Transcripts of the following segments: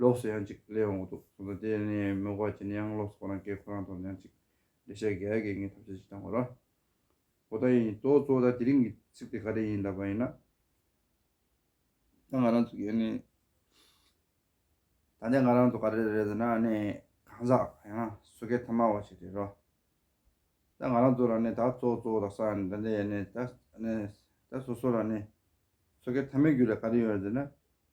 ལོགས་སུ་ཡང་ཅིག་སླེབས་འོང་གི་འདུག་གསུངས་སོང་དེ་ནས་མོས་གོ་བ་བྱས་ནས་ཡང་ལོགས་སུ་ཁོ་རང་སྐད་ཁོ་རང་དོར་ནས་ཡང་ཅིག་འགྲེལ་བཤད་རྒྱག་གི་ངས་ཐབས་ཤེས་ཅིག་བཏང་གོ་ར། ཨོ་ད་ཡིན་དོ་གཙོ་བོ་ད་དེ་རིང་གི་ཚིག་དེ་ག་རེ་ཡིན་ལབ་པ་ཡིན་ན། ད་ང་རང་ཚོ་གས་ནི། ད་ནས་ང་རང་ཚོ་ག་རེ་རེད་ཟེར་ན་ནི་གང་ཟག་ཡང་ན་སོ་སྐད་ཐ་མ་བ་ཞིག་རེད་རོ། ད་ང་རང་ཚོ་ལ་ནི་ད་གཙོ་བོ་གཙོ་བོ་ད་ས་ནི་ད་འདི་ཡིན་ནི་ད། ད་སོ་སོ་ལ་ནི་སོ་སྐད་ཐ་མའི་རྒྱུ་ལས་ག་རེ་ཡོད་རེད་ཟེར་ན།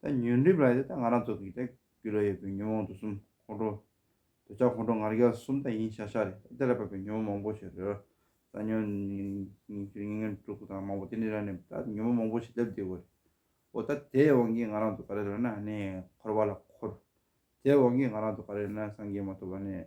ད་ཉོན་སྒྲིབ་ལ་ཡོད་ད་ང་རང་ཚོ་གིས་ད་རྒྱུ་ལ་ཡོད་པའི་ཉོན་མོངས་དུག་གསུམ་ཁོང་ཁྲོ། འདོད་ཆགས་ཁོང་ཁྲོ་ངར་རྒྱལ་གསུམ་ད་ཡིན་ཤག་ཤག་རེད་ད་དེ་ལ་བབས་པའི་ཉོན་མོངས་མང་པོ་ཞིག་རེད། ད་ཉོན། ཉིན་ཤུར་ཉིན་ངན་སྤྲུལ་སྐུ་དང་མང་པོ་དེ་འདྲའི་རང་ནས་ད་ཉོན་མོངས་མང་པོ་ཞིག་སླེབས་བསྡད་དགོས་རེད། འོ་ད་དེའི་དབང་གིས་ང་རང་ཚོ་ག་རེ་ལོན་ན་ནས་འཁོར་བ་ལ་འཁོར། དེའི་དབང་གིས་ང་རང་ཚོ་ག་རེ་ལོན་ན་སངས་རྒྱས་མ་ཐོབ་པ་ནས།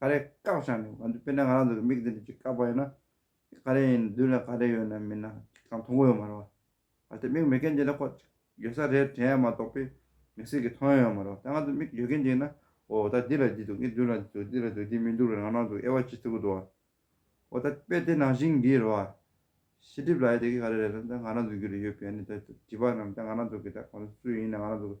ག་རེ་བཀག་ཆགས་ནས་ང་ཚོ་དཔེར་ན་ང་རང་ཚོ་གི་མིག་འདི་ནས་ཅིག་བཀག་པ་ཡིན་ན། ག་རེ་ཡིན་མདུན་ལ་ག་རེ་ཡོད་ན་མིན་ན་ཅིག་གང་མཐོང་གི་ཡོད་མ་རེད་བ། གལ་ཏེ་མིག་མེད་མཁན་ཅིག་ལ་ཁོག་ཅིག་ཡོད་ས་རེད་དྲན་ཡ་མ་གཏོགས་པའི་མིག་ཟེར་གི་མཐོང་ཡ་ཡོད་མ་རེད་བ། ད་ང་ཚོ་མིག་ཡོད་མཁན་ཅིག་ན་འོ་ད་འདི་ལ་འདི་འདུག་ངའི་མདུན་ལ་འདི་འདུག་འདི་ལ་འདི་འདུག་འདི་མི་འདུག་རེད་རང་རང་ཚོ་དབྱེ་བ་ཅིག་ཐུབ་ཀི་འདུག་བ། འོ་ད་དཔེ་དེ་ནང་བཞིན་གྱིས་རེད་བ། ཤེས་སྒྲིབ་ལ་ཡ་དེ་གི་ག་རེ་རེད་ད་ང་རང་ཚོ་རྒྱུད་ལ་ཡོད་པའི་ནི་ད་བྱིས་པ་རྣམས་ད་ང་རང་ཚོ་གི་ད་གང་ཚོ་སུ་ཡིན་ན་ང་རང་ཚོ་གི།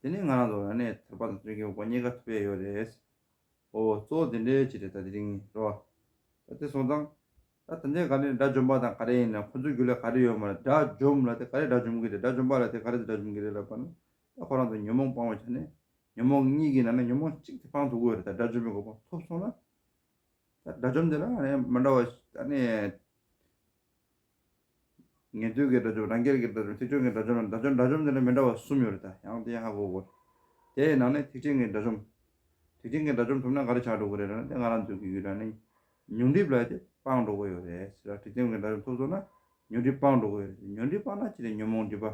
དེ་ནི་ང་རང་ཚོ་རང་ནས་ཐེག་པ་དང་བརྩོན་གྱི་དབང་གཉིས་ཀ་ཐོབ་ཡས་ཡོད་རེད། ཨོ་བོ་གཙོ་བོ་དེ་འདྲའི་ཆེད་རེད་ད་དེ་རིང་ནས་རོ། ད་དེ་སོང་ཙང། ད་ད་འདྲའི་ག་རེ་དགྲ་འཇོམས་པ་དང་ག་རེ་ཡིན་ནམ་ཁོ་ཚོའི་རྒྱུ་ལས་ག་རེ་ཡོད་མ་རེད་དགྲ་འཇོམས་ལ་དེ་ག་རེ་དགྲ་འཇོམས་གི་རེད་དགྲ་འཇོམས་པ་ལ་དེ་ག་རེ་དགྲ་འཇོམས་གི་རེད་ལབ་པ་ན་ད་ཁོ་རང་ཚོ་ཉོན་མོངས་སྤང་བའི་ཆ་ནས་ཉོན་མོངས་གཉིས་ཀྱི་ནང་ན་ཉོན་མོངས་གཅིག་དེ་སྤང་ཐུབ་གི་ཡོད་རེད་ད་དགྲ་འཇོམས་པའི་གོ་བ་ཐོབ་སོང་ན། ད་དགྲ་འཇོམས་དེ་ལ་ཨ་ནེ་མ་འདྲ་བ་ཨ་ནེ། ངལ་དུས་ཀྱི་དགྲ་བཅོམ་རང་རྒྱལ་གྱི་དགྲ་བཅོམ་ཐེག་ཆེན་གྱི་དགྲ་བཅོམ་དགྲ་བཅོམ་དགྲ་བཅོམ་དེ་འདྲ་མི་འདྲ་བ་གསུམ་ཡོད་རེད་ད་ཡང་དེ་ཧ་གོ་དགོས། དེའི་ནང་ནས་ཐེག་ཆེན་གྱི་དགྲ་བཅོམ། ཐེག་ཆེན་གྱི་དགྲ་བཅོམ་ཐུབ་ན་ག་རེ་བྱ་འགྲོ་གི་རེད་ན་དེ་ང་རང་ཚོའི་གི་ཡུལ་གྲྭ་ནས་ཉུང་འགྲིབ་ལ་དེ་སྤང་འགྲོ་གི་ཡོད་རེད་ཟེར་ལ་ཐེག་ཆེན་གྱི་དགྲ་བཅོམ་ཐོབ་སོང་ན་ཉོན་འགྲིབ་སྤང་འགྲོ་གི་ཡོད་རེད་དེ་ཉོན་འགྲིབ་སྤངས་ན་ཅི་རེད་ཉོན་མོངས་འགྲིབ་པ་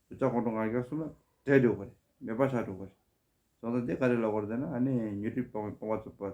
དུ་ལྕགས་གོང་དུ་ངར་རྒྱག་གསུམ་ལ་བྲེད་འགྲོ་གི་རེད་མེད་པ་བྱ་འགྲོ་གི་རེད། བཟང་ས་དེ་ག་རེ་ལ་གོ་རེ་ད་ན་ཨ་ནེ་ཉོན་འགྲིབ་སྤང་བའི་སྤོང་བ་ཚུབ་པ།